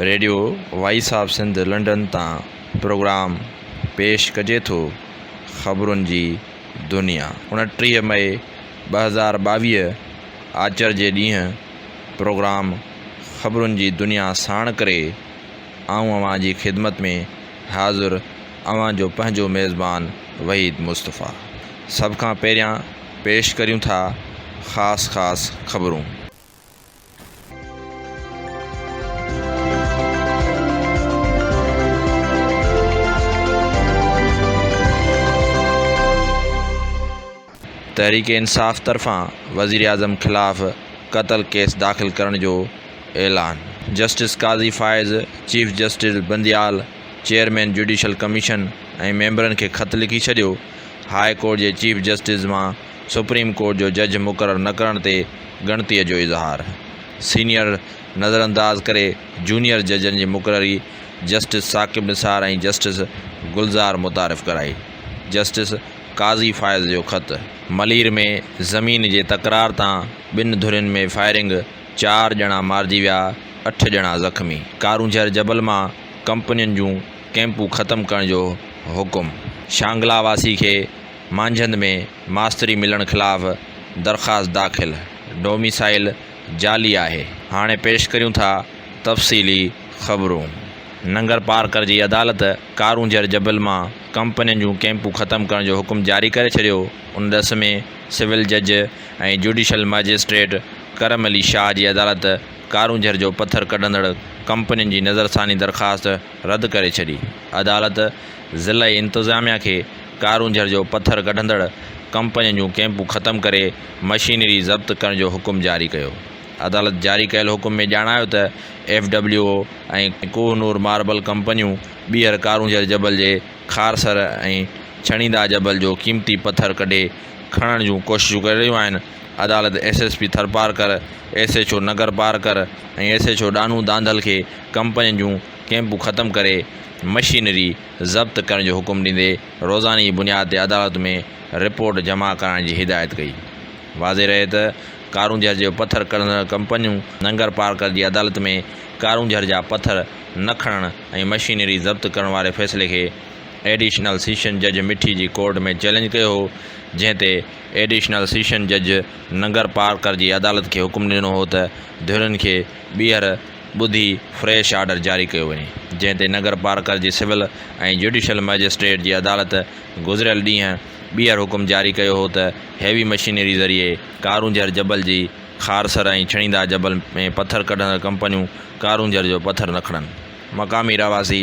Radio voice of Sindh London تان programme پيش ڪجي ٿو خبرن جي دنيا اڻٽيهه مئي ٻه هزار ٻاويهه آچر جي ڏينهن پروگرام خبرن جي دنيا ساڻ ڪري آئون اوهان جي خدمت ۾ حاضر اوهان جو پنهنجو ميزبان وحيد مصطفيٰ سڀ کان پهريان پيش ڪريون ٿا خاص خاص خبرون. تحريڪ انصاف طرفان وزيراعظم خلاف قتل ڪيس داخل ڪرڻ جو اعلان، justice Qazi Faez, chief justice Bandial, chairman judicial commission ۽ ميمبرن کي خط لکي ڇڏيو، هاء ڪورٽ جي چيف جسٽس مان سپريم ڪورٽ جو جج مقرر نه ڪرڻ تي ڳڻتي جو اظهار، سينيئر نظرانداز ڪري جونيئر ججن جي مقرري جسٽس ثاقب نثار ۽ جسٽس گلزار متعارف ڪرائي، جسٽس. قاضي فائز جو خط، ملير ۾ زمين جي تڪرار تان ٻن ڌرين ۾ فائرنگ، چار ڄڻا مارجي ويا، اٺ ڄڻا زخمي، ڪارونجهر جبل مان ڪمپنين جون ڪئمپون ختم ڪرڻ جو حڪم، شانگلا واسي کي مانجهند ۾ ماستري ملڻ خلاف درخواست داخل، ڊوميسائيل جعلي آهي. هاڻي پيش ڪريون ٿا تفصيلي خبرون. ننگر پارڪر جي عدالت ڪارونجهر جبل مان ڪمپنين جون ڪئمپون ختم ڪرڻ جو حڪم جاري ڪري ڇڏيو، ان ڏس ۾ سول جج ۽ جوڊيشل ماجسٽريٽ ڪرم علي شاهه جي عدالت ڪارونجهر جو پٿر ڪڍندڙ ڪمپنين جي نظرثاني درخواست رد ڪري ڇڏي، عدالت ضلعي انتظاميا کي ڪارونجهر جو پٿر ڪڍندڙ ڪمپنين جون ڪئمپون ختم ڪري مشينري ضبط ڪرڻ جو حڪم جاري ڪيو، عدالت جاري ڪيل حڪم ۾ ڄاڻايو ته F W O ۽ Kohinoor marble ڪمپنيون ٻيهر ڪارونجهر جبل جي خارسر ۽ ڇڻيندا جبل جو قيمتي پٿر ڪڍي کڻڻ جون ڪوششون ڪري رهيون آهن، عدالت S S P Tharparkar, S H O Nagarparkar ۽ S H O Dano Dhandal کي ڪمپنين جون ڪئمپون ختم ڪري مشينري ضبط ڪرڻ جو حڪم ڏيندي روزاني جي بنياد تي عدالت ۾ رپورٽ جمع ڪرائڻ جي هدايت ڪئي. واضح رهي ته ڪارونجهر جي پٿر ڪڍندڙ ڪمپنيون ننگرپارڪر جي عدالت ۾ ڪارونجهر جا پٿر نه کڻڻ، ۽ مشينري ضبط ڪرڻ واري فيصلي کي ايڊيشنل سيشن جج مٺي جي ڪورٽ ۾ چئلينج ڪيو هو، جنهن تي ايڊيشنل سيشن جج ننگرپارڪر جي عدالت کي حڪم ڏنو هو ته ڌرين کي ٻيهر ٻڌي فريش آرڊر جاري ڪيو وڃي، جنهن تي ننگرپارڪر جي سول ۽ جڊيشل مئجسٽريٽ جي عدالت گذريل ڏينهن ٻيهر حڪم جاري ڪيو هو ته هيوي مشينري ذريعي ڪارونجهر جبل جي خارسر ۽ ڇڻيندا جبل ۾ پٿر ڪڍندڙ ڪمپنيون ڪارونجهر جو پٿر نه کڻن، مقامي رهواسي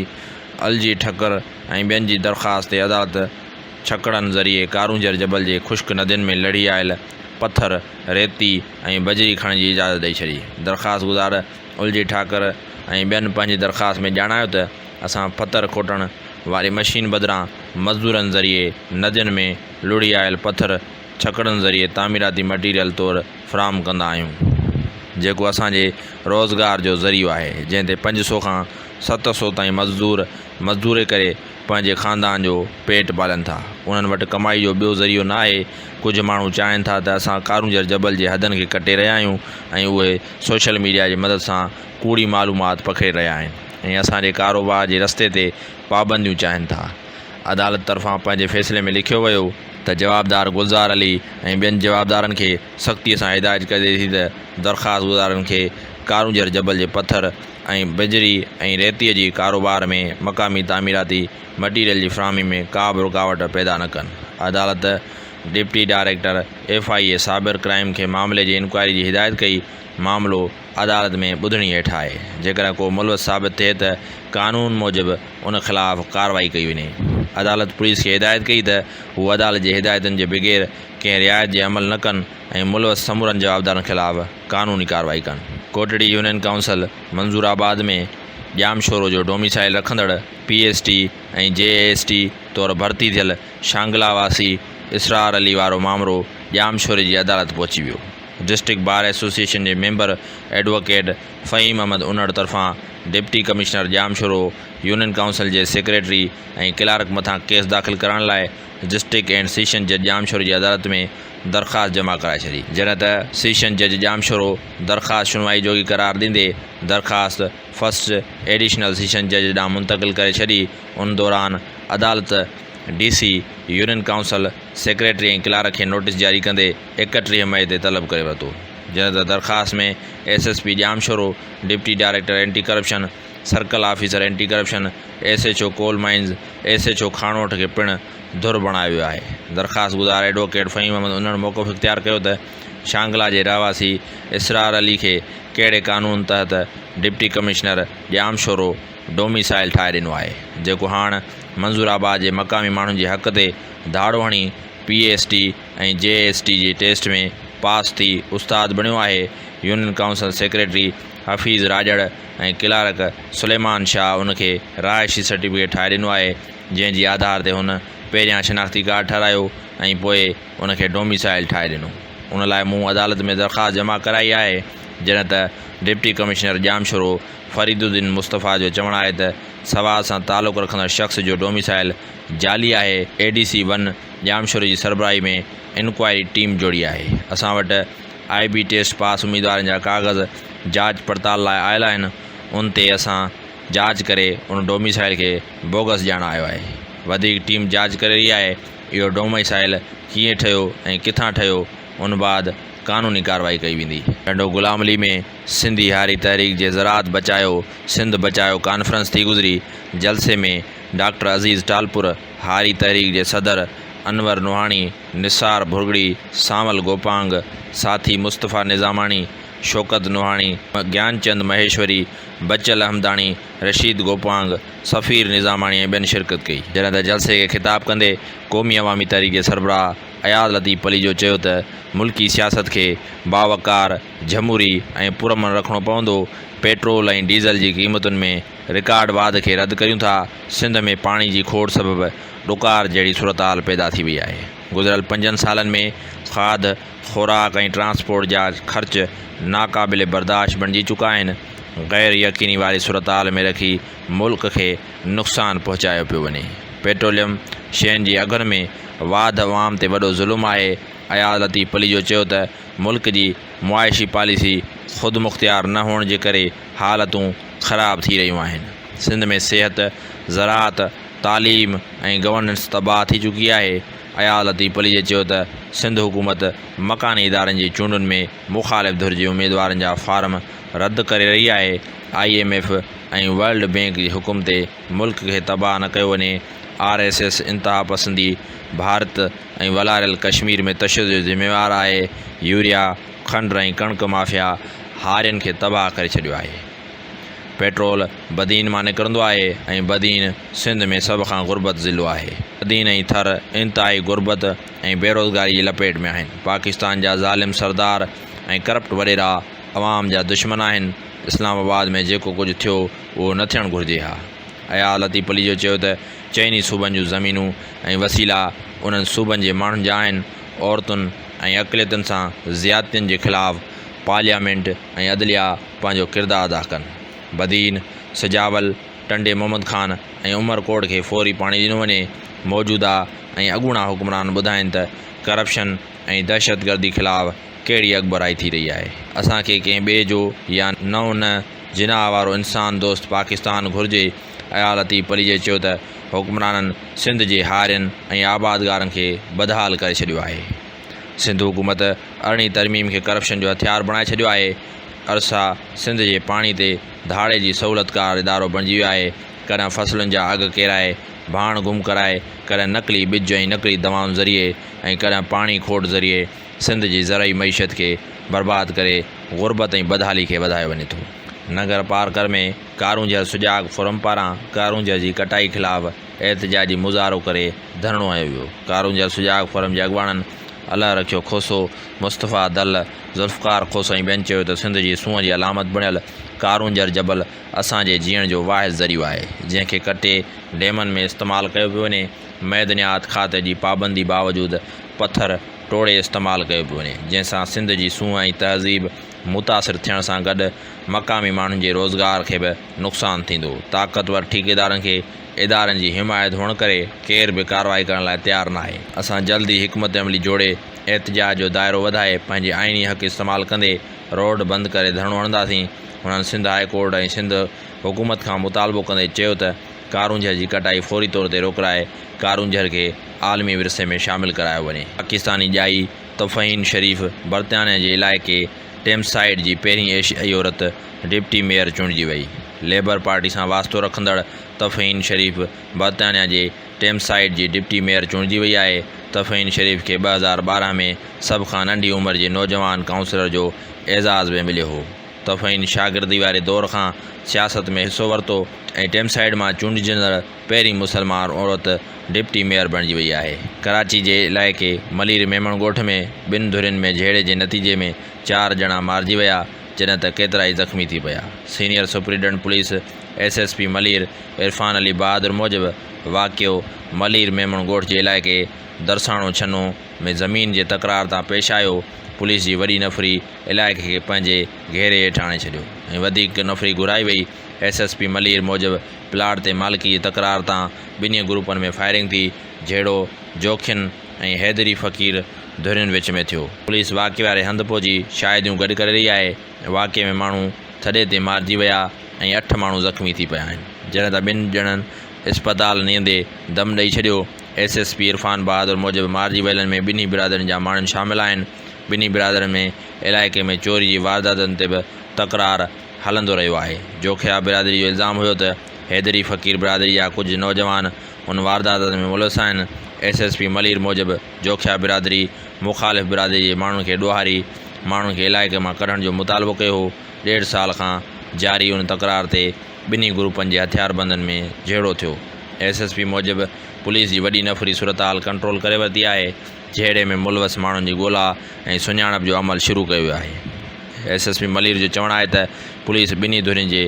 الجي ٺڪر ۽ ٻين جي درخواست تي عدالت ڇڪڙن ذريعي ڪارونجهر جبل جي خشڪ ندين ۾ لڙهي آيل پٿر، ريتي ۽ بجري کڻڻ جي اجازت ڏئي ڇڏي. درخواستگذار الجي ٺاڪر ۽ ٻين پنهنجي درخواست ۾ ڄاڻايو ته اسان پٿر کوٽڻ واري مشين بدران مزدورن ذريعي ندين ۾ لڙهي آيل پٿر، ڇڪڙن ذريعي تعميراتي مٽيريل طور فراهم ڪندا آهيون جيڪو اسان جي روزگار جو ذريعو آهي جنهن تي پنج سو کان ست سو تائين مزدور مزدوري ڪري پنهنجي خاندان جو پيٽ پالن ٿا انهن وٽ ڪمائي جو ٻيو ذريعو نه آهي ڪجهه ماڻهو چاهن ٿا ته اسان ڪارونجهر جبل جي حدن کي ڪٽي رهيا آهيون ۽ اهي سوشل ميڊيا جي مدد سان ڪوڙي معلومات پکيڙي رهيا آهن ۽ اسان جي ڪاروبار جي رستي تي پابنديون چاهن ٿا عدالت طرفان پنهنجي فيصلي ۾ لکيو ويو ته جوابدار گلزار علي ۽ ٻين جوابدارن کي سختي سان هدايت ڪجي ٿي ته درخواستگذارن کي ڪارونجهر جبل جي پٿر ۽ بجري ۽ ريتي جي ڪاروبار ۾ مقامي تعميراتي مٽيريل جي فراهمي ۾ ڪا به رڪاوٽ پيدا نه ڪن. عدالت deputy director F I A cyber crime کي معاملي جي انڪوائري جي هدايت ڪئي، معاملو. عدالت ۾ ٻڌڻي هيٺ آهي، جيڪڏهن ڪو ملوث ثابت ٿئي ته قانون موجب ان خلاف ڪارروائي ڪئي وڃي. عدالت پوليس کي هدايت ڪئي ته هو عدالت جي هدايتن جي بغير ڪنهن رعايت جي عمل نه ڪن ۽ ملوث سمورن جوابدارن خلاف قانوني ڪارروائي ڪن. ڪوٽڙي يونين ڪائونسل منظور آباد ۾ ڄامشورو جو ڊوميسائيل رکندڙ P S T ۽ J S T طور ڀرتي ٿيل شانگلا واسي اسرار علي وارو مامرو ڄامشوري جي عدالت پهچي ويو. ڊسٽرڪٽ بار ايسوسيئيشن جي ميمبر ايڊووڪيٽ فهيم احمد انڙ طرفان deputy commissioner Jamshoro, union council جي سيڪريٽري ۽ ڪلارڪ مٿان ڪيس داخل ڪرائڻ لاء ڊسٽرڪٽ اينڊ سيشن جج ڄام شورو جي عدالت ۾ درخواست جمع ڪرائي ڇڏي. جڏهن ته سيشن جج ڄام شورو درخواست شنوائي جوڳي قرار ڏيندي درخواست فرسٽ ايڊيشنل سيشن جج ڏانهن منتقل ڪري ڇڏي، ان دوران عدالت D C, union council, secretary ۽ clerk کي نوٽيس جاري ڪندي، اڪٽيهه مئي تي طلب ڪري ورتو جڏهن ته درخواست ۾ S S P Jamshoro, deputy director anti corruption, circle officer anti corruption, S H O coal mines, S H O Khanoth کي پڻ ڌر بڻايو ويو آهي. درخواستگذار ايڊووڪيٽ فهيم احمد انهڙ موقف اختيار ڪيو ته شانگلا جي رهواسي اسرار علي کي ڪهڙي قانون تحت ڊپٽي ڪمشنر ڄامشورو ڊوميسائل ٺاهي ڏنو آهي جيڪو هاڻ منظور آباد جي مقامي ماڻهن جي حق تي ڌاڙو هڻي P A S T ۽ J S T جي ٽيسٽ ۾ پاس ٿي استاد بڻيو آهي، union council secretary Hafeez Rajar ۽ clerk Suleman Shah ان کي رهائشي سرٽيفڪيٽ ٺاهي ڏنو آهي، جنهن جي آڌار تي هن پهريان شناختي ڪارڊ ٺهرايو ۽ پوء ان کي ڊوميسائل ٺاهي ڏنو، ان لاء مون عدالت ۾ درخواست جمع ڪرائي آهي، جڏهن ته deputy commissioner Jamshoro Fariduddin Mustafa جو چوڻ آهي ته سوات سان تعلق رکندڙ شخص جو ڊوميسائل جعلي آهي، اي ڊي سي ون. ڄامشوري جي سربراهي ۾ انڪوائري ٽيم جوڙي آهي، اسان وٽ آء بي ٽيسٽ پاس اميدوارن جا ڪاغذ جاچ پڙتال لاء آيل آهن، ان تي اسان جاچ ڪري ان ڊوميسائيل کي بوگس ڄاڻايو آهي، وڌيڪ ٽيم جاچ ڪري رهي آهي، اهو ڊوميسائيل ڪيئن ٺهيو ۽ ڪٿان ٺهيو، ان بعد قانوني ڪارروائي ڪئي ويندي. ٽنڊو غلام علي ۾ سنڌي هاري تحريڪ جي زراعت بچايو سنڌ بچايو ڪانفرنس ٿي گذري، جلسي ۾ ڊاڪٽر عزيز ٽالپر هاري تحريڪ جي صدر انور نوحاڻي، نثار ڀرڳڙي، سانول گوپانگ، ساٿي مصطفيٰ نظاماڻي، شوڪت نوحاڻي، گيان چند مهيشوري، بچل احمداڻي، رشيد گوپانگ، سفير نظاماڻي ۽ ٻين شرڪت ڪئي. جڏهن ته جلسي کي خطاب ڪندي قومي عوامي تحريڪ جي سربراهه اياز لطيف پليجو چيو ته ملڪي سياست کي باوقار، جھموري ۽ پرامن رکڻو پوندو، پيٽرول ۽ ڊيزل جي قيمتن ۾ رڪارڊ واڌ کي رد ڪريون ٿا، سنڌ ۾ پاڻي جي کوڙ سبب ڏڪار جهڙي صورتحال پيدا ٿي وئي آهي، گذريل پنجن سالن ۾ کاڌ، خوراڪ ۽ ٽرانسپورٽ جا خرچ ناقابل برداشت بڻجي چڪا آهن، غير يقيني واري صورتحال ۾ رکي ملڪ کي نقصان پهچايو پيو وڃي، پيٽروليم شين جي اگهن ۾ واڌ عوام تي وڏو ظلم آهي، اياز لطيف پليجو چيو ته ملڪ جي معاشي پاليسي خودمختيار نه هئڻ جي ڪري حالتون خراب ٿي رهيون آهن. سنڌ ۾ صحت، زراعت، تعليم ۽ گورننس تباهه ٿي چڪي آهي. اياز لطيف پليجي چيو ته سنڌ حڪومت مڪاني ادارن جي چونڊن ۾ مخالف ڌر جي اميدوارن جا فارم رد ڪري رهي آهي، I M F ۽ world bank جي حڪم تي ملڪ کي تباهه نه ڪيو وڃي، آر ايس ايس انتهاپسندي ڀارت ۽ والاريل ڪشمير ۾ تشدد جو ذميوار آهي، يوريا. کنڊ ۽ ڪڻڪ مافيا هارين کي تباهه ڪري ڇڏيو آهي. پيٽرول بدين مان نڪرندو آهي ۽ بدين سنڌ ۾ سڀ کان غربت ضلعو آهي. بدين ۽ ٿر انتهائي غربت ۽ بيروزگاري جي لپيٽ ۾ آهن. پاڪستان جا ظالم سردار ۽ ڪرپٽ وڏيرا عوام جا دشمن آهن. اسلام آباد ۾ جيڪو ڪجهه ٿيو اهو نه ٿيڻ گهرجي ها. اياز لطيف پليجو چيو ته چئني صوبن جون زمينون ۽ وسيلا انهن صوبن جي ماڻهن جا آهن. عورتن ۽ اقليتن سان زيادتين جي خلاف پارليامينٽ ۽ عدليا پنهنجو ڪردار ادا ڪن، بدين، سجاول، ٽنڊي محمد خان ۽ عمر ڪوٽ کي فوري پاڻي ڏنو وڃي، موجوده ۽ اڳوڻا حڪمران ٻڌائين ته ڪرپشن ۽ دهشتگردي خلاف ڪهڙي اڳڀرائي ٿي رهي آهي. اسان کي ڪنهن ٻئي جو يا نئون نه جناح وارو انسان دوست پاڪستان گهرجي اياز لطيف پليجي چيو ته حڪمرانن سنڌ جي هارين ۽ آبادگارن کي بدحال ڪري ڇڏيو آهي، سنڌ حڪومت ارڙهين ترميم کي ڪرپشن جو هٿيار بڻائي ڇڏيو آهي، ارسا سنڌ جي پاڻي تي ڌاڙي جي سهولتڪار ادارو بڻجي ويو آهي، ڪڏهن فصلن جا اگهه ڪيرائي ڀاڻ گم ڪرائي، ڪڏهن نقلي ٻج ۽ نقلي دوائن ذريعي ۽ ڪڏهن پاڻي کوٽ ذريعي سنڌ جي زرعي معيشت کي برباد ڪري غربت ۽ بدحالي کي وڌايو وڃي ٿو. ننگرپارڪر ۾ ڪارونجهر سجاڳ فورم پاران ڪارونجهر جي ڪٽائي خلاف احتجاجي مظاهرو ڪري ڌرڻو هنيو ويو، ڪارونجهر سجاڳ فورم جي اڳواڻن الله رکيو کوسو، مصطفيٰ دل، ذوالفقار کوسو ۽ ٻين چيو ته سنڌ جي سونهن جي علامت بڻيل ڪارونجهر جبل اسان جي جيئڻ جو واحد ذريعو آهي، جنهن کي ڪٽي ڊيمن ۾ استعمال ڪيو پيو وڃي، معدنيات کاتي جي پابندي باوجود پٿر ٽوڙي استعمال ڪيو پيو وڃي، جنهن سان سنڌ جي سونهن ۽ تهذيب. متاثر ٿيڻ سان گڏ مقامي ماڻهن جي روزگار کي به نقصان ٿيندو، طاقتور ٺيڪيدارن کي ادارن جي حمايت هئڻ ڪري ڪير به ڪارروائي ڪرڻ لاء تيار ناهي، اسان جلد ئي حڪمت عملي جوڙي احتجاج جو دائرو وڌائي پنهنجي آئيني حق استعمال ڪندي روڊ بند ڪري ڌرڻو هڻنداسين، هنن سنڌ هاء ڪورٽ ۽ سنڌ حڪومت کان مطالبو ڪندي چيو ته ڪارونجهر جي ڪٽائي فوري طور تي روڪرائي ڪارونجهر کي عالمي ورثي ۾ شامل ڪرايو وڃي، پاڪستاني ڄائي. طفعين شريف برطانيه جي علائقي ٽيمز سائيڊ جي پهرين ايشيائي عورت ڊپٽي ميئر چونڊجي وئي. ليبر پارٽي سان واسطو رکندڙ طفعين شريف برطانيه جي ٽيمز سائيڊ جي ڊپٽي ميئر چونڊجي وئي آهي. طفعين شريف کي ٻه هزار ٻارهن ۾ سڀ کان ننڍي عمر جي نوجوان ڪائونسلر جو اعزاز به مليو هو. طفعين شاگردي واري دور کان سياست ۾ حصو ورتو ۽ ٽيمسائيڊ مان چونڊجندڙ پهرين مسلمان عورت ڊپٽي ميئر بڻجي وئي آهي. ڪراچي جي علائقي ملير ميمڻ ڳوٺ ۾ ٻن ڌرين ۾ جهيڙي جي نتيجي ۾ چار ڄڻا مارجي ويا جڏهن ته ڪيترائي زخمي ٿي پيا. Senior superintendent police S S P Malir Irfan Ali Bahadur موجب واقعو ملير ميمڻ ڳوٺ جي علائقي درساڻو ڇنو ۾ زمين جي تڪرار تان پيش آيو پوليس جي وڏي نفري علائقي کي پنهنجي گهيري هيٺ آڻي ڇڏيو ۽ وڌيڪ نفري گهرائي وئي ايس ايس پي ملير موجب پلاٽ تي مالڪي جي تڪرار تان ٻنهي گروپن ۾ فائرنگ ٿي، جهيڙو جوکين ۽ حيدري فقير ڌرين وچ ۾ ٿيو. پوليس واقعي واري هنڌ پهچي شاهديون گڏ ڪري رهي آهي، واقعي ۾ ماڻهو ٿڏي تي مارجي ويا ۽ اٺ ماڻهو زخمي ٿي پيا آهن، جڏهن ته ٻن ڄڻن اسپتال نيندي دم ڏئي ڇڏيو، S S P Irfan Bahadur موجب مارجي ويلن ۾ ٻنهي برادرين جا ماڻهن شامل آهن، ٻنهي برادرين ۾ علائقي ۾ چوري جي وارداتن تي به تڪرار هلندو رهيو آهي. جوکيا برادري جو الزام هيو ته حيدري فقير برادري جا ڪجهه نوجوان ان واردات ۾ ملوث آهن. ايس ايس پي ملير موجب جوکيا برادري مخالف برادري جي ماڻهن کي ڏوهاري ماڻهن کي علائقي مان ڪڍڻ جو مطالبو ڪيو هو. ڏيڍ سال کان جاري ان تڪرار تي ٻنهي گروپن جي هٿياربندن ۾ جهيڙو ٿيو. ايس ايس پي موجب پوليس جي وڏي نفري صورتحال ڪنٽرول ڪري ورتي آهي جهيڙي ۾ ملوث ماڻهن جي ڳولا ۽ سڃاڻپ جو عمل شروع ڪيو ويو آهي ايس ايس پي ملير جو چوڻ آهي ته پوليس ٻنهي ڌرين جي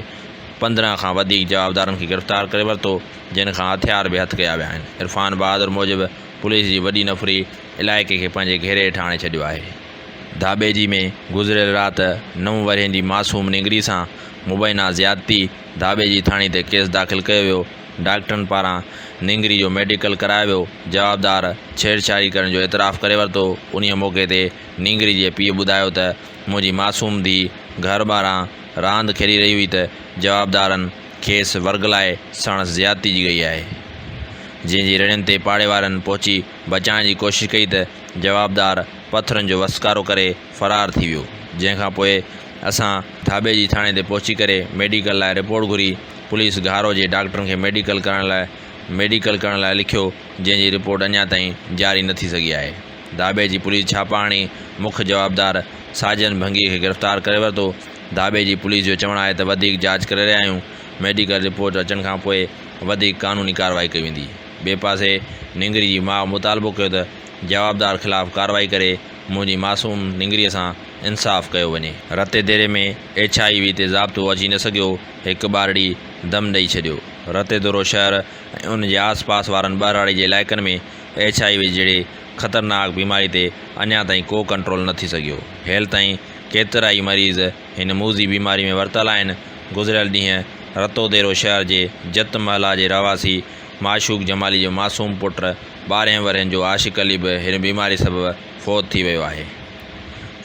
پندرهن کان وڌيڪ جوابدارن کي گرفتار ڪري ورتو جن کان هٿيار به هٿ ڪيا ويا آهن عرفان بهادر موجب پوليس جي وڏي نفري علائقي کي پنهنجي گهيري هيٺ آڻي ڇڏيو آهي ڌاٻيجي ۾ گذريل رات نو ورهين جي معصوم نينگري سان مبينا زيادتي ڌاٻيجي ٿاڻي تي ڪيس داخل ڪيو ويو ڊاڪٽرن پاران نينگري جو ميڊيڪل ڪرايو ويو، جوابدار ڇيڙڇاڙي ڪرڻ جو اعتراف ڪري ورتو، انهيء موقعي تي نينگري جي پيء ٻڌايو ته منهنجي معصوم ڌيء گهر ٻاهران راند کيڏي رهي هئي ته جوابدارن کيس ورغلائي ساڻس زيادتي جي ڪئي آهي، جنهن جي رڙين تي پاڙي وارن پهچي بچائڻ جي ڪوشش ڪئي ته جوابدار پٿرن جو وسڪارو ڪري فرار ٿي ويو جنهن کان پوء اسان ڌاٻي جي ٿاڻي تي پهچي ڪري ميڊيڪل لاء رپورٽ گهري پوليس گهارو جي ڊاڪٽرن کي ميڊيڪل ڪرڻ لاء ميڊيڪل ڪرڻ لاء لکيو جنهن جي رپورٽ اڃا تائين جاري نه ٿي سگهي آهي ڌاٻي جي پوليس ڇاپا هڻي مک جوابدار ساجن ڀنگي کي گرفتار ڪري ورتو ڌاٻي جي پوليس جو چوڻ آهي ته وڌيڪ جاچ ڪري رهيا آهيون ميڊيڪل رپورٽ اچڻ کان پوء وڌيڪ قانوني ڪارروائي ڪئي ويندي ٻئي پاسي نينگري جي ماء مطالبو ڪيو ته جوابدار خلاف ڪارروائي ڪري منهنجي معصوم نينگريء سان انصاف ڪيو وڃي. Ratodero ۾ H I V تي ضابطو اچي نه سگهيو، هڪ ٻارڙي دم ڏئي ڇڏيو. رتي دورو شهر ۽ ان جي آس پاس وارن ٻهراڙي جي علائقن ۾ ايڇ آء وي جهڙي خطرناڪ بيماري تي اڃا تائين ڪو ڪنٽرول نه ٿي سگهيو. هيل تائين ڪيترائي مريض هن موذي بيماري ۾ ورتل آهن. گذريل ڏينهن رتو ديرو شهر جي جت محلا جي رهواسي، معشوق جمالي جو معصوم پٽ ٻارهن ورهين جو عاشق علي به هن بيماري سبب فوت ٿي ويو آهي.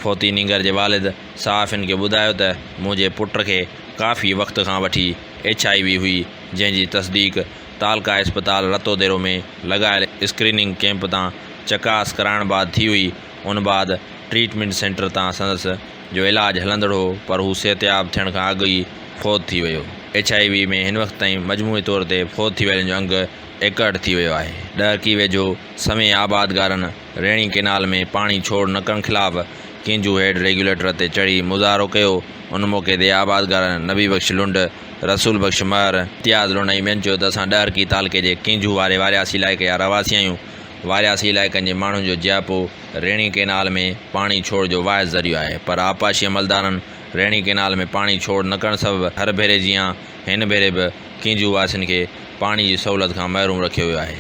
فوتي نينگر جي والد صحافين کي ٻڌايو ته منهنجي پٽ کي ڪافي وقت کان وٺي ايڇ آء وي هئي جنهن جي تصديق تعلقه اسپتال رتوديرو ۾ لڳايل اسڪريننگ ڪيمپ تان چڪاس ڪرائڻ بعد ٿي هئي ان بعد ٽريٽمينٽ سينٽر تان سندس جو علاج هلندڙ هو پر هو صحتياب ٿيڻ کان اڳ ئي فوت ٿي ويو. ايڇ آء وي ۾ هن وقت تائين مجموعي طور تي فوت ٿي ويلن جو انگ ايڪهٺ ٿي ويو آهي. ڏهڪي ويجهو سوين آبادگارن ريڻي ڪينال ۾ پاڻي ڇوڙ نه ڪرڻ خلاف ڪينجهو هيڊ ريگيوليٽر تي چڙهي مظاهرو ڪيو، ان موقعي تي آبادگارن نبي بخش لنڊ، رسول بخش مهر، امتياز لوڻائي ٻين چيو ته اسان ڏهرڪي تعلقي جي ڪينجهو واري وارياسي علائقي جا رهواسي آهيون وارياسي علائقن جي ماڻهن جو جياپو ريڻي ڪئنال ۾ پاڻي ڇوڙ جو واحد ذريعو آهي پر آبپاشي عملدارن ريڻي ڪئنال ۾ پاڻي ڇوڙ نه ڪرڻ سبب هر ڀيري جيان هن ڀيري به ڪينجهو واسين کي پاڻي جي سهولت کان محروم رکيو ويو آهي.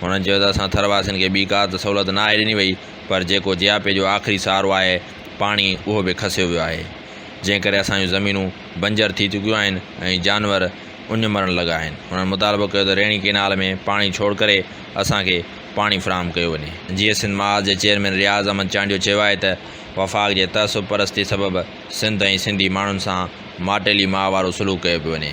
هنن چيو ته اسان ٿر واسين کي ٻي ڪا ته سهولت نه آهي ڏني وئي پر جيڪو جياپي جو آخري سهارو آهي پاڻي اهو به کسيو ويو آهي جنهن ڪري اسان جون زمينون بنجر ٿي چڪيون آهن ۽ جانور اڃ مرڻ لڳا آهن انهن مطالبو ڪيو ته ريڻي ڪينال ۾ پاڻي ڇوڙ ڪري اسان کي پاڻي فراهم ڪيو وڃي. جيئي سنڌ محاذ جي چيئرمين رياض احمد چانڊيو چيو آهي ته وفاق جي تعصب پرستي سبب سنڌ ۽ سنڌي ماڻهن سان ماٽيلي ماء وارو سلوڪ ڪيو پيو وڃي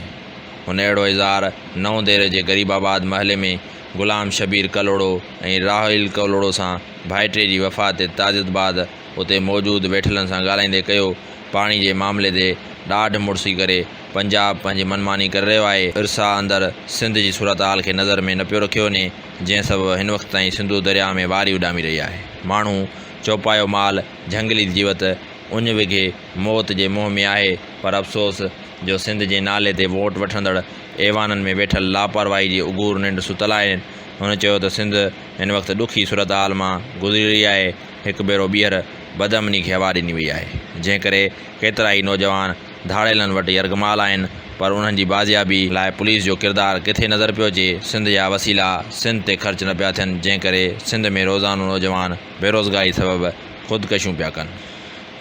هن اهڙو اظهار نئون ديري جي غريب آباد محلي ۾ غلام شبير ڪلهوڙو ۽ راحيل ڪلهوڙو سان ڀائٽي جي وفات تي تعزيت بعد اتي موجود ويٺلن سان ڳالهائيندي ڪيو پاڻي جي معاملي تي ڏاڍ مڙسي ڪري پنجاب پنهنجي من ماني ڪري رهيو آهي، ارسا اندر سنڌ جي صورتحال کي نظر ۾ نه پيو رکيو وڃي، جنهن سبب هن وقت تائين سنڌو درياهه ۾ واري اڏامي رهي آهي. ماڻهو، چوپايو مال، جهنگلي جيوت، اڃ وگهي موت جي منهن ۾ آهي پر افسوس جو سنڌ جي نالي تي ووٽ وٺندڙ ايوانن ۾ ويٺل لاپرواهي جي اگهور ننڊ ستل آهن. هن چيو ته سنڌ هن وقت ڏکي صورتحال مان گذري رهي آهي، هڪ ڀيرو ٻيهر بدامني کي هوا ڏني وئي آهي، جنهن ڪري ڪيترائي نوجوان ڌاڙيلن وٽ يرغمال آهن، پر انهن جي بازيابي لاء پوليس جو ڪردار ڪٿي نظر پيو اچي، سنڌ جا وسيلا سنڌ تي خرچ نه پيا ٿين، جنهن ڪري سنڌ ۾ روزانو نوجوان بيروزگاري سبب خودڪشيون پيا ڪن.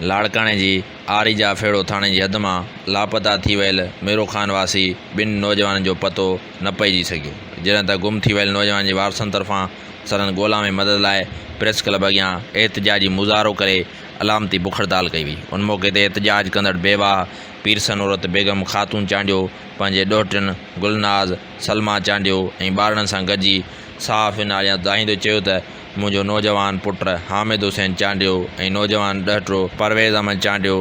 لاڙڪاڻي جي آري جا ڦيڙو ٿاڻي جي حد مان لاپتا ٿي ويل ميرو خان واسي ٻن نوجوانن جو پتو نه پئجي سگهيو، جڏهن ته گم ٿي ويل نوجوانن جي وارثن طرفان سندن ڳولا ۾ مدد لاء پريس ڪلب اڳيان احتجاجي مظاهرو ڪري علامتي بک هڙتال ڪئي وئي، ان موقعي تي احتجاج ڪندڙ بيواهه پير سنورت بيگم خاتون چانڊيو پنهنجي ڏوهٽين گلناز، سلما چانڊيو ۽ ٻارڙن سان گڏجي صحافين آڏيان دانهيندي چيو ته منهنجو نوجوان پٽ حامد حسين چانڊيو ۽ نوجوان ڏهٽرو پرويز احمد چانڊيو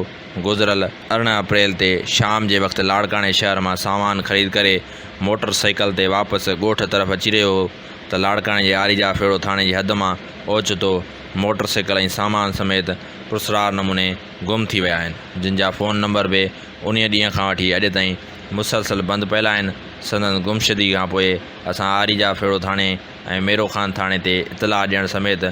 گذريل ارڙهن اپريل تي شام جي وقت لاڙڪاڻي شهر مان سامان خريد ڪري موٽر سائيڪل تي واپس ڳوٺ طرف اچي رهيو هو، ته لاڙڪاڻي جي آري جا ڦيڙو ٿاڻي جي حد مان اوچتو موٽر سائيڪل ۽ سامان سميت پرسرار نموني گم ٿي ويا آهن، جن جا فون نمبر به انهيء ڏينهن کان وٺي اڄ تائين مسلسل بند پيل آهن، سندن گمشدگي کان پوء اسان آري جا ڦيڙو ٿاڻي ۽ ميرو خان ٿاڻي تي اطلاع ڏيڻ سميت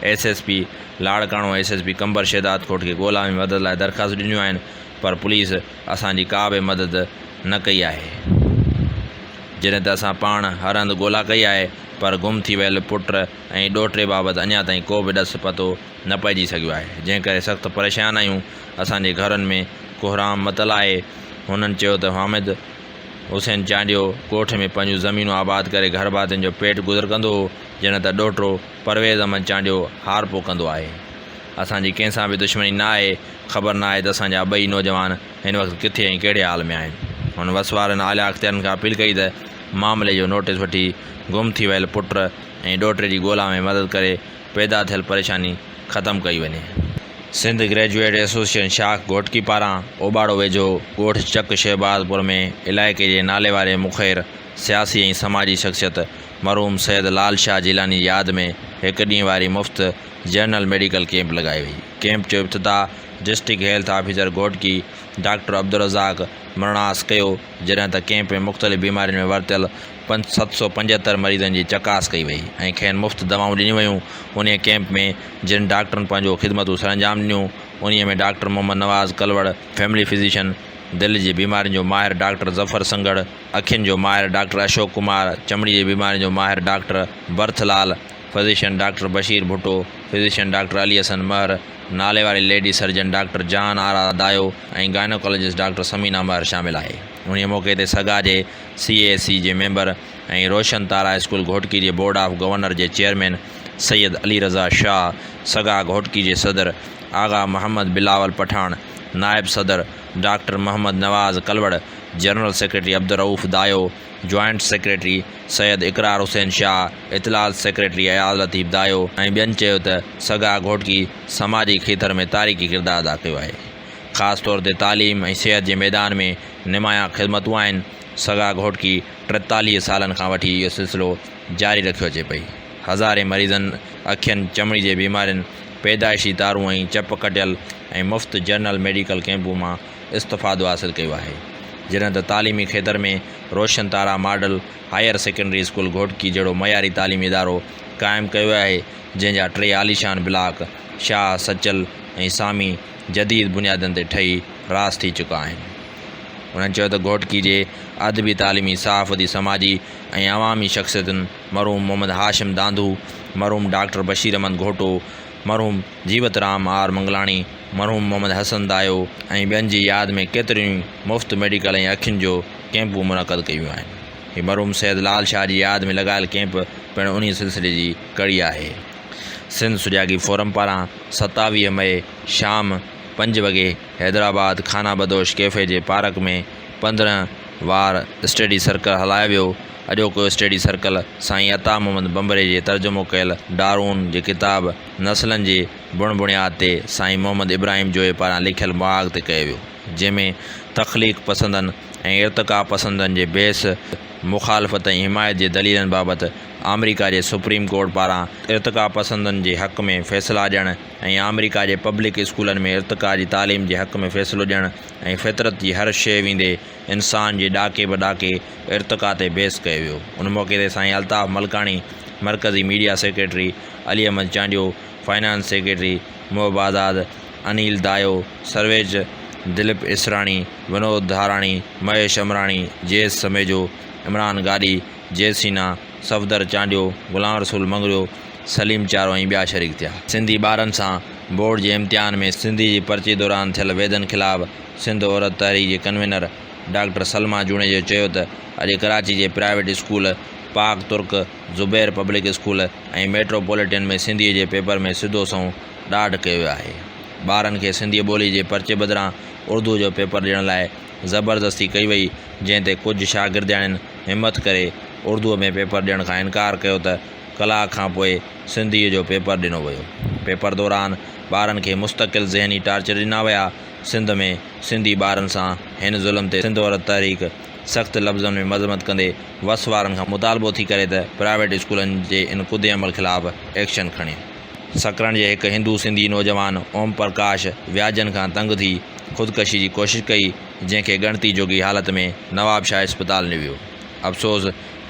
S S P Larkana ۽ S S P Qambar Shahdadkot کي ڳولا ۾ مدد لاء درخواستون ڏنيون آهن پر پوليس اسان جي ڪا به مدد نه ڪئي آهي، جڏهن ته اسان پاڻ هر هنڌ ڳولا ڪئي آهي، پر گم ٿي ويل پٽ ۽ ڏوهٽي بابت اڃا تائين ڪو به ڏس پتو نه پئجي سگهيو آهي، جنهن ڪري سخت پريشان آهيون، اسان جي گهرن ۾ ڪهرام متل آهي، هنن چيو ته حامد حسين چانڊيو ڳوٺ ۾ پنهنجون زمينون آباد ڪري گهرڀاتين جو پيٽ گذر ڪندو هو، جڏهن ته ڏوهٽو. پرويز احمد چانڊيو هار پوکندو آهي، اسان جي ڪنهن سان به دشمني نه آهي، خبر نه آهي ته اسان جا ٻئي نوجوان هن وقت ڪٿي ۽ ڪهڙي حال ۾ آهن. هن وس وارن اعليٰ اختيارين کان اپيل ڪئي ته معاملي جو نوٽيس وٺي گم ٿي ويل پٽ ۽ ڏوهٽي جي ڳولا ۾ مدد ڪري پيدا ٿيل پريشاني ختم ڪئي وڃي. سنڌ گريجوئيٽ ايسوسيئيشن شاخ گهوٽڪي پاران اوٻاڙو ويجهو ڳوٺ چڪ شهباز پور ۾ علائقي جي ناليواري مخير سياسي ۽ سماجي شخصيت مرحوم سيد لال شاهه جيلاني جي ياد ۾ هڪ ڏينهن واري مفت جنرل ميڊيڪل ڪيمپ لڳائي وئي. ڪيمپ جو افتتاح district health officer Ghotki doctor Abdulrazzaq Manas ڪيو، جڏهن ته ڪيمپ ۾ مختلف بيمارين ۾ ورتيل پنج سؤ ست سؤ پنجهتر مريضن جي چڪاس ڪئي وئي ۽ کين مفت دوائون ڏنيون ويون. انهيء ڪيمپ ۾ جن ڊاڪٽرن پنهنجو خدمتون سرانجام ڏنيون، انهيء ۾ doctor Muhammad Nawaz Kalhor, family physician, دل جي بيمارين جو ماهر ڊاڪٽر ظفر سنگهڙ، اکين جو ماهر ڊاڪٽر اشوڪ ڪمار، چمڙي جي بيمارين جو ماهر doctor Barath Lal, physician doctor Bashir Bhutto, physician doctor Ali Hassan مهر، ناليواري lady surgeon doctor Jahan Ara Dayo ۽ gynaecologist doctor Samina Mehar شامل آهي. انهيء موقعي تي سگا جي سي اي ايس سي جي ميمبر ۽ روشن تارا اسڪول گهوٽڪي جي بورڊ آف گورنر جي چيئرمين سيد علي رضا شاهه، سگا گهوٽڪي جي صدر آغا محمد بلاول پٺاڻ، نائب صدر doctor Muhammad Nawaz Kalor, general secretary Abdulrauf Dayo, joint secretary Syed Iqrar Hussain Shah, اطلاعات سيڪريٽري اياز لطيف دايو ۽ ٻين چيو ته سگا گهوٽڪي سماجي کيتر ۾ تاريخي ڪردار ادا ڪيو آهي. خاص طور تي تعليم ۽ صحت جي ميدان ۾ نمايان خدمتون آهن. سگا گهوٽڪي ٽيتاليهه سالن کان وٺي اهو سلسلو جاري رکيو اچي پئي. هزارين مريضن اکين، چمڙي جي بيمارين، پيدائشي تارون ۽ چپ ڪٽيل ۽ مفت جنرل ميڊيڪل ڪئمپون مان استفادو حاصل ڪيو آهي. جڏهن ته تعليمي کيتر ۾ Roshan Tara model higher secondary school Ghotki جهڙو معياري تعليمي ادارو قائم ڪيو ويو آهي جنهن جا ٽي عاليشان بلاڪ شاهه، سچل ۽ سامي جديد بنيادن تي ٺهي راس ٿي چڪا آهن. انهن چيو ته گهوٽڪي جي ادبي تعليمي صحافتي سماجي ۽ عوامي شخصيتن، مرحوم محمد هاشم دانڌو، مرحوم ڊاڪٽر بشير احمد گهوٽو، مرحوم جيوت رام آر منگلاڻي، مرحوم محمد حسن دايو ۽ ٻين جي ياد ۾ ڪيتريون ئي مفت ميڊيڪل ۽ اکين جو ڪيمپون منعقد ڪيون ويون آهن. هي مرحوم سيد لال شاهه جي ياد ۾ لڳايل ڪيمپ پڻ انهيء سلسلي جي ڪڙي آهي. سنڌ سجاڳي فورم پاران ستاويهه مئي شام پنج وڳي حيدرآباد خانابدوش ڪيفي جي پارڪ ۾ پندرهن وار اسٽڊي سرڪل هلايو ويو اڄوڪو اسٽڊي سرڪل سائين عطا محمد ڀنڀري جي ترجمو ڪيل ڊارون جي ڪتاب نسلن جي بڻ بڻياد تي سائين محمد ابراهيم جويي پاران لکيل مهاڳ تي ڪيو ويو، جنهن ۾ تخليق پسندن ۽ ارتقا پسندن جي بحث، مخالفت ۽ حمايت جي دليلن بابت آمريڪا جي سپريم ڪورٽ پاران ارتقا پسندن جي حق ۾ فيصلا ڏيڻ ۽ آمريڪا جي پبلڪ اسڪولن ۾ ارتقا جي تعليم جي حق ۾ فيصلو ڏيڻ ۽ فطرت جي هر شيء ويندي انسان جي ڏاڪي به ڏاڪي ارتقا تي بحث ڪيو ويو ان موقعي تي سائين الطاف ملڪاڻي مرڪزي media secretary Ali Ahmed Chandio finance secretary Muhib Azad Anil Dayo سرويچ دليپ اسراڻي ونود ڌاراڻي مهيش امراڻي جيس سميجو عمران گاڏهي جي سينا صفدر چانڊيو غلام رسول مڱريو سليم چارو ۽ ٻيا شريڪ ٿيا سنڌي ٻارن سان بورڊ جي امتحان ۾ سنڌي جي پرچي دوران ٿيل ويڌن خلاف سنڌ عورت تحريڪ جي ڪنوينر ڊاڪٽر سلميٰ جوڻيجو چيو ته اڄ ڪراچي جي private school Pak Turk Zubair public school ۽ metropolitan ۾ سنڌيء جي پيپر ۾ سڌو سنئون ڏاڍ ڪيو ويو آهي. ٻارن کي سنڌي ٻولي جي پرچي بدران اردوء جو پيپر ڏيڻ لاء زبردستي ڪئي وئي جنهن تي ڪجهه شاگردياڻين همٿ ڪري اردوء ۾ پيپر ڏيڻ کان انڪار ڪيو ته ڪلاڪ کان پوء سنڌيء جو پيپر ڏنو ويو. پيپر دوران ٻارن کي مستقل ذهني ٽارچر ڏنا ويا سنڌ ۾ سنڌي ٻارن سان هن ظلم تي سنڌ عورت تحريڪ سخت لفظن ۾ مذمت ڪندي وس وارن کان مطالبو ٿي ڪري ته پرائيويٽ اسڪولن جي ان ڪڌي عمل خلاف ايڪشن کڻي. سڪرنڊ جي هڪ هندو سنڌي نوجوان اوم پرڪاش وياجن کان تنگ ٿي خودڪشي جي ڪوشش ڪئي جنهن کي ڳڻتي جوڳي حالت ۾ نواب شاهه اسپتال نيو ويو. افسوس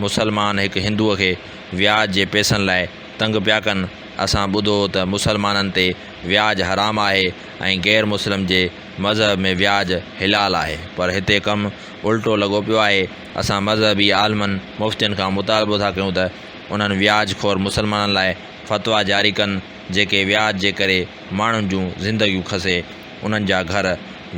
مسلمان هڪ هندو کي وياج جي پئسن لاء تنگ پيا ڪن اسان ٻڌو هو ته مسلمانن تي وياج حرام آهي ۽ غير مسلم جي مذهب ۾ وياج حلال آهي پر هتي ڪم الٽو لڳو پيو آهي اسان مذهبي عالمن مفتين کان مطالبو ٿا ڪيون ته انهن وياج خور مسلمانن لاء فتويٰ جاري ڪن جيڪي وياج جي ڪري ماڻهن جون زندگيون کسي انهن جا گهر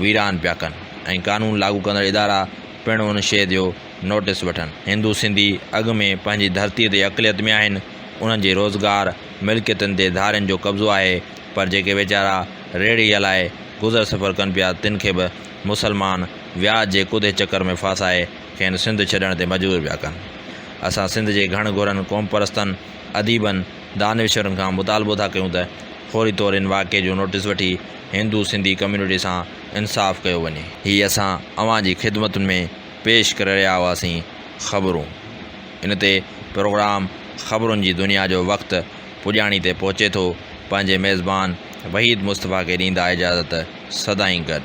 ويران پيا ڪن ۽ قانون لاڳو ڪندڙ ادارا پڻ ان شيء جو نوٽس وٺن. هندو سنڌي اڳ ۾ پنهنجي ڌرتي تي اقليت ۾ آهن انهن جي روزگار ملڪيتن تي ڌارين جو قبضو آهي، پر جيڪي ويچارا ريڙهي هلائي گذر سفر ڪن پيا تن کي به مسلمان وياج جي ڪڌي چڪر ۾ ڦاسائي کين سنڌ ڇڏڻ تي مجبور پيا ڪن. اسان سنڌ جي گهڻ گهرن قومپرستن، اديبن، دانشورن کان مطالبو ٿا ڪيون ته فوري طور ان واقعي جو نوٽيس وٺي هندو سنڌي ڪميونٽي سان انصاف ڪيو وڃي. هي اسان اوهان جي خدمتن ۾ پيش ڪري رهيا هئاسين خبرون. ان تي پروگرام خبرن جي دنيا جو وقت پڄاڻي تي پهچي ٿو، پنهنجي ميزبان وحيد مصطفيٰ کي ڏيندا اجازت، سدائين گڏ.